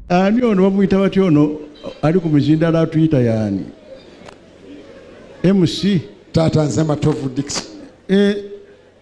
ani ono bamuyita batya ono ali ku mizindalo atuyita yaani mc taata nze matovu dixon eh,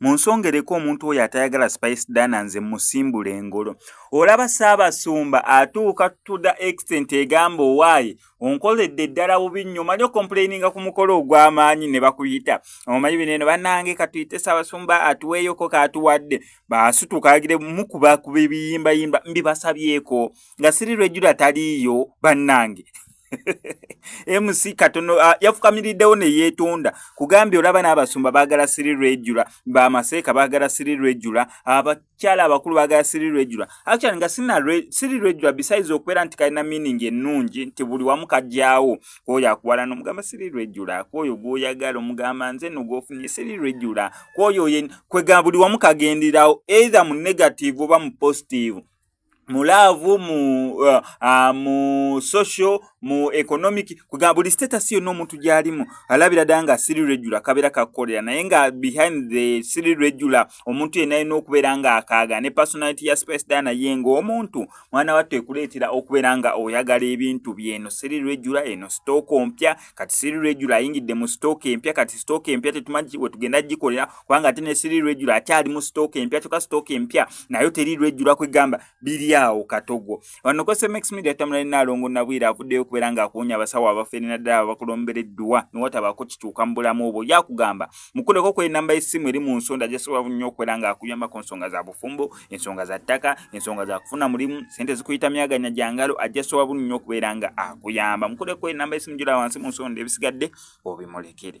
munsongereko omuntu oyo atayagala spice dana nze musimbula engolo olaba saabasumba atuuka to the extent egamba owaayi onkoledde ddala bubi nnyo omanyi okomplaininga ku mukolo ogw'amaanyi ne bakuyita omanyi bino eno bannange katuyite saabasumba atuweeyoko kaatuwadde baasutukagire mukuba ku bibiyimbayimba mbibasabyeko nga siri lwejjula taliiyo bannange mc katono uh, yafukamiriddewo neyeetonda kugambye olaba n'abasumba baagala siri lwejula bamaseeka baagala siri lwejula abakyala abakulu baagala siri lwejula actually nga siri lwejula besides okubeera nti kalina meaning ennungi nti buli wamu kajyawo kwoyo akuwala nomugamba siri lwejula kwoyo gwoyagala omugamba nze no gwofunye siri lwejula kwoyo kwegaa buli wamu kagenderawo either mu negative oba mu positive mu laavu mu uh, uh, mu social mu economic kuga buli status yonna omuntu gyalimu alabira ddala nga siri regular kabeera kakukolera naye nga behind the siri regular omuntu yenna alina okubeera nga akaaga ne personality ya space da naye nga omuntu mwana wattu ekuleetera okubeera nga oyagala ebintu byeno siri regular eno sitooko mpya kati siri regular ayingidde mu stock empya kati stock empya tetumanyi wetugenda gikolera kubanga ate ne siri regular akyali mu stock empya kyoka stock empya nayo teri regular kwegamba biri awo katogo wano ko semex media tamula ina alongo na bwira avuddeyo kubera nga akunya abasawo abafere na ddala abakulombere duwa niwata bako kituka mbula mubo yakugamba mukuleko kwe namba esimu eri mu nsonda jesobola nnyo okwera nga akuyamba ku nsonga za bufumbo ensonga za ttaka ensonga za kufuna mulimu sente zikuyita myaganya gyangalo ajja sowa bunu nnyo okubeera nga akuyamba mukuleko enamba esimu gyola wansi mu nsonda ebisigadde obimulekere